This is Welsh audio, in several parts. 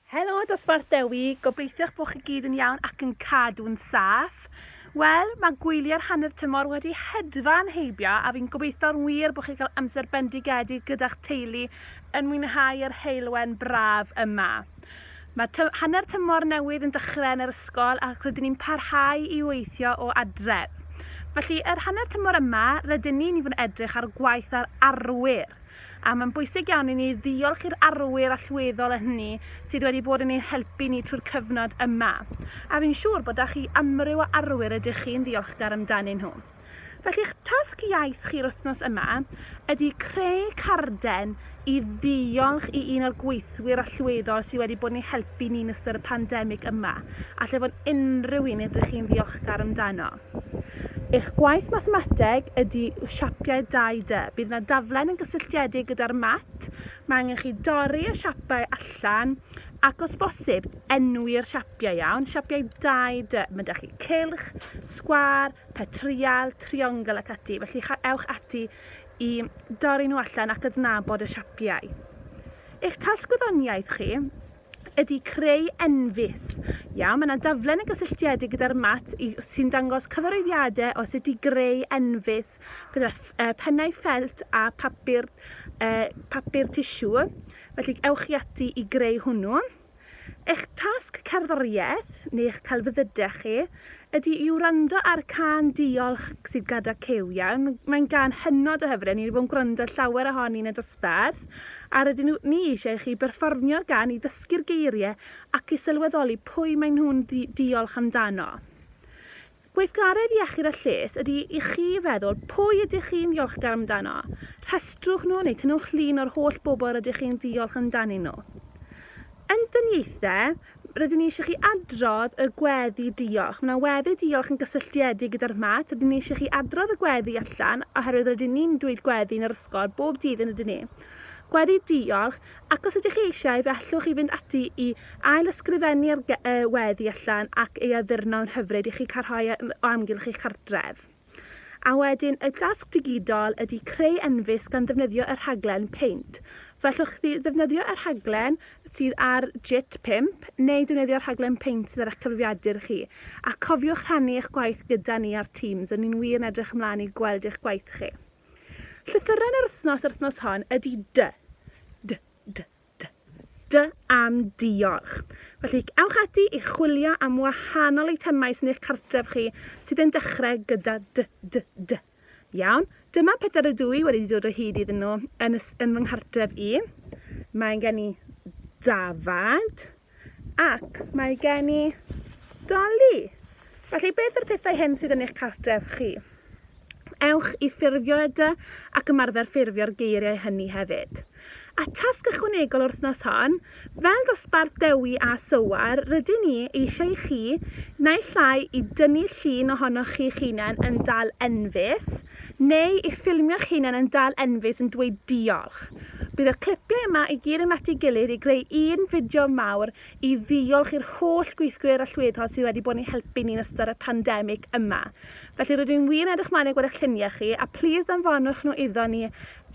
Helo Dosbarth Dewi, gobeithiwch bod chi gyd yn iawn ac yn cadw'n saff. Wel, mae gwyliau'r hanner tymor wedi hedfan heibio a fi'n gobeithio'n wir bod chi'n cael amser bendigedig gyda'ch teulu yn mwynhau yr heulwen braf yma. Mae ty hanner tymor newydd yn dechrau yn yr ysgol ac rydyn ni'n parhau i weithio o adref. Felly, yr hanner tymor yma, rydyn ni'n i fod yn edrych ar gwaith ar arwyr. A mae'n bwysig iawn i ni ddiolch i'r arwyr allweddol a hynny sydd wedi bod yn ein helpu ni trwy'r cyfnod yma. A fi'n siŵr bod 'da chi amryw o arwyr rydych chi'n ddiolchgar amdanyn nhw. Felly eich tasg iaith chi'r wythnos yma ydy creu carden i ddiolch i un o'r gweithwyr allweddol sydd wedi bod yn ei helpu ni'n ystod y pandemig yma, a lle fod unrhyw un ydych chi'n ddiolchgar amdano. Eich gwaith mathemateg ydy siapiau 2D. Bydd yna daflen yn gysylltiedig gyda'r mat. Mae angen chi dorri y siapau allan ac os bosib, enwi'r siapiau iawn, siapiau 2D. Mae 'da chi cylch, sgwâr, petrial, triongl ac ati, felly ewch ati i dorri nhw allan ac adnabod y siapiau. Eich tasg gwyddoniaeth chi ydy creu enfys. Iawn, mae 'na daflen yn gysylltiedig gyda'r mat i, sy'n dangos cyfarwyddiadau os ydy greu enfys gyda uh, pennau ffelt a papur, uh, papur tisiw. Felly ewch i ati i greu hwnnw. Eich tasg cerddoriaeth neu eich celfyddydau chi ydy i wrando ar cân Diolch sydd gada Cyw iawn. Mae'n gân hynod o hyfryd, ni wedi bod yn gwrando llawer ohoni yn y dosbarth, a rydyn nhw, ni eisiau i chi berfformio'r gân i ddysgu'r geirie ac i sylweddoli pwy maen nhw'n ddi diolch amdano. Gweithgaredd iechyd a lles ydy i chi feddwl pwy ydych chi'n ddiolchgar amdano, rhestrwch nhw neu tynnwch llun o'r holl bobl rydych chi'n diolch amdanyn nhw. Yn dyniaethe, Rydyn ni eisiau chi adrodd y gweddi diolch. Mae yna weddi diolch yn gysylltiedig gyda'r math. Rydyn ni eisiau chi adrodd y gweddi allan oherwydd rydyn ni'n dweud gweddi yn yr ysgol bob dydd yn ydyn ni. Gweddi diolch, ac os ydych chi eisiau fe allwch chi fynd ati i ail ysgrifennu ar y weddi allan ac ei addurno'n hyfryd i chi cael rhoi o amgylch eich cartref. A wedyn y dasg digidol ydy creu enfys gan ddefnyddio y rhaglen Paint. F'allwch chi ddefnyddio y rhaglen sydd ar JIT 5 neu defnyddio'r rhaglen Paint sydd ar eich cyfrifiadur chi. A cofiwch rhannu eich gwaith gyda ni ar Teams, r'yn ni'n wir yn edrych ymlaen i gweld eich gwaith chi. Llythyren yr wythnos yr wythnos hon ydy dy, dy, dy, D. D am diolch. Felly, ewch ati i chwilio am wahanol eitemau sy'n eich cartref chi sydd yn dechrau gyda D, D, D. Iawn, dyma pethau rydw i wedi dod o hyd iddyn nhw yn, yn fy nghartref i. Mae gen i dafad. Ac mae gen i doli! Felly, beth yw'r pethau hyn sydd yn eich cartref chi? Ewch i ffurfio edy ac ymarfer ffurfio'r geiriau hynny hefyd. A tasg ychwanegol yr wythnos hon, fel dosbarth Dewi a Sywar, rydyn ni eisiau i chi, naill ai i dynnu llun ohonoch chi'ch hunain yn dal enfys, Neu i ffilmio'ch hunan yn dal enfys yn dweud diolch. Bydd yr clipiau yma i gyd yn at ei gilydd i greu un fideo mawr i ddiolch i'r holl gweithgwyr allweddol sydd wedi bod yn ein helpu ni yn ystod y pandemic yma. Felly rydw i'n wir yn edrych mlaen at gweld eich lluniau chi a plîs anfonwch nhw iddo ni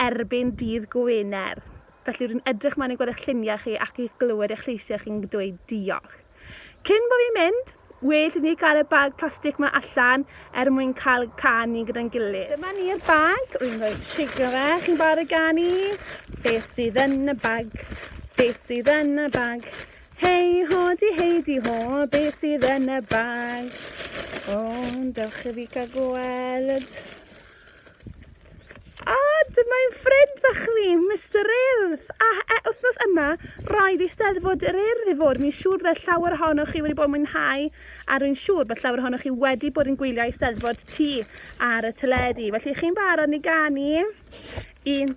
erbyn dydd Gwener. Felly rwy'n edrych mlaen i gweld eich lluniau chi ac i glywed eich lleisiau chi'n dweud diolch. Cyn bo fi'n mynd, well i ni cael y bag plastic ma allan er mwyn cael canu gyda'n gilydd. Dyma ni'r bag, rwy'n rhoi shake fe, chi'n barod i ganu? Be sydd yn y bag? Be sydd yn y bag? Hei ho di hei di ho, be sydd yn y bag? O, dewch i fi cael gweld. A dyma ein ffrind bach ni, Mister Urdd. A e, wythnos yma, roedd Eisteddfod yr Urdd i fod. Mi'n siŵr byddai llawer ohonoch chi wedi bod yn mwynhau, a rwy'n siŵr bod llawer ohonoch chi wedi bod yn gwylio Eisteddfod T ar y teledu. Felly, chi'n barod i ganu? Un,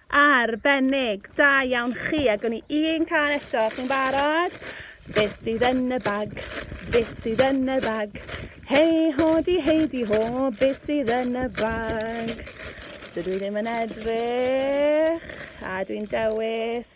Ar bennig, da iawn chi, a gwn i un can eto, chi'n barod? Be sydd yn y bag? Be sydd yn y bag? Hei ho di hei di ho, be sydd yn y bag? Dydw i ddim yn edrych, a dwi'n dewis.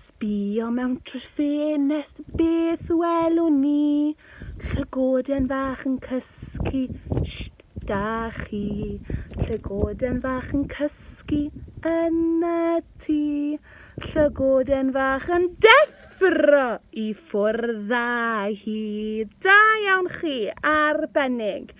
Sbïo mewn trwy'r ffenest, beth welwn ni? Llygoden fach yn cysgu, sht, da chi? Llygoden fach yn cysgu yn y tŷ. Llygoden fach yn deffro i ffwrdd â hi. Da iawn chi, arbennig!